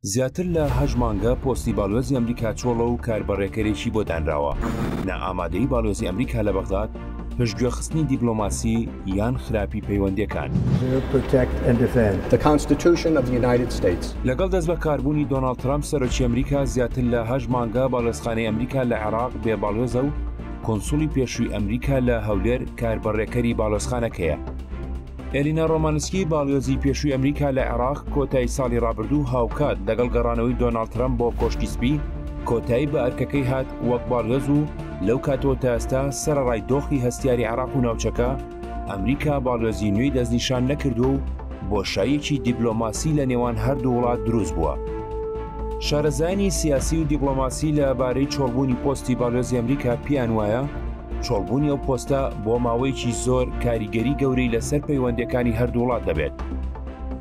زیاتر لە هەشت مانگە پۆستی باڵوێزی ئەمریکا چۆڵە و کاربەڕێکەرێکی بۆ دانراوە. نائامادەیی باڵوێزی ئەمریکا لە بەغداد، پشتگوێخستنی دیبلۆماسی یان خراپی پەیوەندییەکان؟ لەگەڵ دەستبەکاربوونی دۆناڵد ترەمپ سەرۆکی ئەمریکا، زیاتر لە هەشت مانگە باڵوێزخانەی ئەمریکا لە عێراق بێ باڵوێزە و کونسوڵی پێشووی ئەمریکا لە هەولێر کاربەڕێکەری باڵوێزخانەکەیە. ئێلینا ڕۆمانسکی باڵیۆزی پێشووی ئەمریکا لە عێراق کۆتایی ساڵی ڕابردوو هاوکات لەگەڵ گەڕانەوەی دۆناڵد ترەمپ بۆ کۆشکی سپی کۆتایی بە ئەرکەکەی هات وەک باڵیۆز و لەو کاتەوە تا ئێستا سەرەڕای دۆخی هەستیاری عێراق و ناوچەکە ئەمریکا باڵیۆزی نوێی دەستنیشان نەکردووە و بۆشاییەکی دیبلۆماسی لە نێوان هەردوو وڵات دروست بووە. شارەزایانی سیاسی و دیبلۆماسی لە بارەی چۆڵبوونی پۆستی باڵیۆزی ئەمریکا پێیان وایە چۆڵبوونی ئەو پۆستە بۆ ماوەیەکی زۆر کاریگەری گەورەی لەسەر پەیوەندەکانی هەردووڵات دەبێت.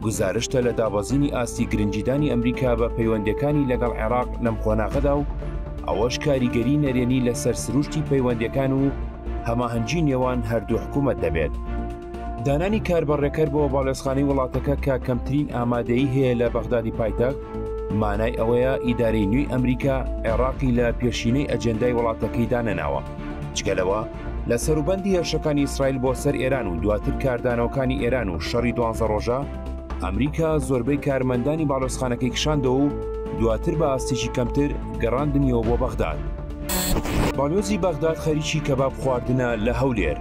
گزارشتە لە دابەزینی ئاستی گرنجیدانی ئەمریکا بە پەیوەندەکانی لەگەڵ عێراق لەم قۆناغەدا و ئەوەش کاریگەری نەرێنی لەسەر سروشتی پەیوەندەکان و هەماهەنگی نێوان هەردوو حکوومەت دەبێت. دانانی کاربەڕێکەر بۆ باڵێزخانی وڵاتەکە کە کەمترین ئامادەی هەیە لە بەغدادی پایتەخت مانای ئەوەیە ئیدارەی نوێی ئەمریکا عێراقی لە پێشینەی ئەجێندای وڵاتەکەی دانەناوە جگەلەوە لە سەروبەندی هێرشەکانی ئیسرائیل بۆ سەر ئێران و دواتر کاردانەوەکانی ئێران و شەڕی دوانزە ڕۆژە ئەمریکا زۆربەی کارمەندانی باڵۆسخانەکەی کشاندەوە و دواتر بە ئاستێکی کەمتر گەڕاندنیەوە بۆ بەغداد باڵۆزی بەغداد خەریکی کەباب خواردنە لە هەولێر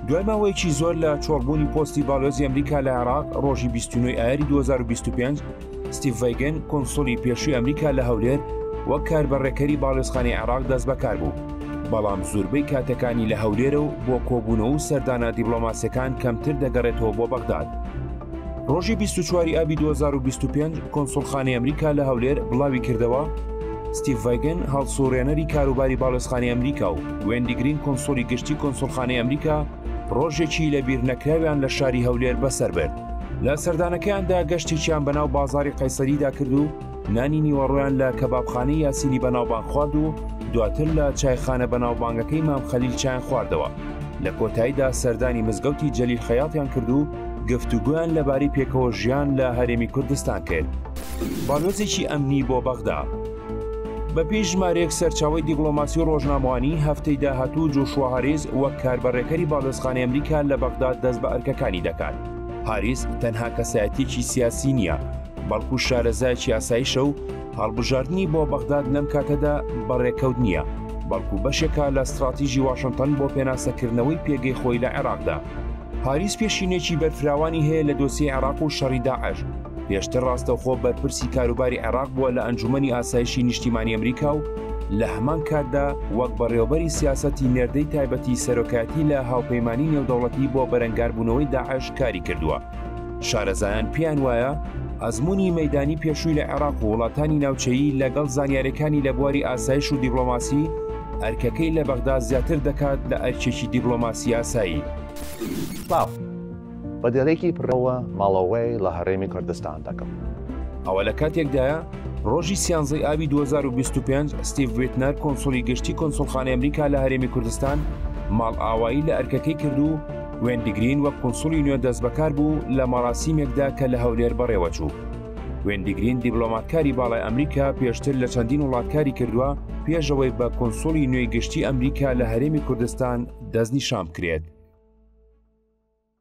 دوای ماوەیەکی زۆر لە چۆڵبوونی پۆستی باڵۆزی ئەمریکا لە عێراق ڕۆژی 29 ئایاری 2025 ستیڤگەن کۆنسۆلی پێشوی ئەمریکا لە هەولێر وەک کار بە ڕێکەری باڵێزخانی عێراق دەست بەکار بوو بەڵام زوربەی کاتەکانی لە هەولێرە و بۆ کۆبوونەوە و سەردانە دیبلۆماسیەکان کەمتر دەگەڕێتەوە بۆ بەغداد. ڕۆژی 24 ئابی 2025 کۆنسڵخانی ئەمریکا لە هەولێر بڵاوی کردەوە ستیڤگەن هەڵسوڕێنەری کاروباری باڵێزخانی ئەمریکا و وێندی گرین کونسوڵی گشتی کونسوڵخانەی ئەمریکا ڕۆژێکی لە بیرنەکراویان لە شاری هەولێر بەسەر برد لە سەردانەکەیاندا گەشتێکیان بەناو بازاری قەیسەریدا کرد و نانی نیوەڕۆیان لە کەبابخانەی یاسینی بەناوبانگ خوارد و دواتر لە چایخانە بەناوبانگەکەی مام خەلیل چیان خواردەوە لە کۆتاییدا سەردانی مزگەوتی جەلیل خەیاتیان کرد و گفتوگویان لەبارەی پێکەوە ژیان لە هەرێمی کوردستان کرد. باڵۆزێکی ئەمنی بۆ بەغدا. بەپێی ژمارەیەک سەرچاوی دیبلۆماسی و ڕۆژنامەوانی هەفتەی داهاتوو جوشوە هەریز وەک کاربەڕێکەری باڵێزخانەی ئەمریکا لە بەغداد دەست بە ئەرکەکانی دەکات. هاریس تەنها کەسایەتیکی سیاسی نییە بەڵکو شارەزایکی ئاسایشە و هەڵبژاردننی بۆ بەغداد لەم کاتەدا بەڕێکەوت نییە بەڵکو بەشێکە لە استراتیژی واشنتن بۆ پێناسەکردنەوەی پێگەی خۆی لە عێراقدا پاریس پێشینێکی بەرفراوانی هەیە لە دۆسی عێراق و شەڕی داعش پێشتر ڕاستەوخۆ بەرپرسی کاروباری عێراق بووە لە ئەنجومی ئاسایشی نیشتیمانی ئەمریکا و لە هەمان کاتدا وەک بەڕێوبەری سیاسەتی نێردەی تایبەتی سەرۆکایەتی لە هاوپەیمانی نێودەوڵەتی بۆ بەرەنگاربوونەوەی داعش کاری کردووە شارەزایان پێیان وایە ئەزمموی مەدانی پێشووی لە عێراق و وڵاتانی ناوچەیی لەگەڵ زانیارەکانی لە بواری ئاسایش و دیبلۆماسی ئەرکەکەی لە بەغدا زیاتر دەکات لە ئەرکێکی دیبلۆماسی-ئاسایی. بە دێڕێکی پرەوە ماڵەوەی لە هەرێمی کوردستان دەکەم. ئەوە لە کاتێکدایە، ڕۆژی سیانزە ی ئابی دوو هەزار و بیست و پێنج، ستیڤ ویتنەر کونسوڵی گشتی کونسوڵخانەی ئەمریکا لە هەرێمی کوردستان ماڵئاوایی لە ئەرکەکەی کرد و وێندی گرین وەک کونسوڵی نوێ دەستبەکار بوو لە مەراسیمێکدا کە لە هەولێر بەڕێوەچوو. وێندی گرین دیبلۆماتکاری باڵای ئەمریکا پێشتر لە چەندین وڵاتکاری کردووە پێشەوەی بە کۆنسولی نوێی گشتی ئەمریکا لە هەرێمی کوردستان دەستنیشان بکرێت.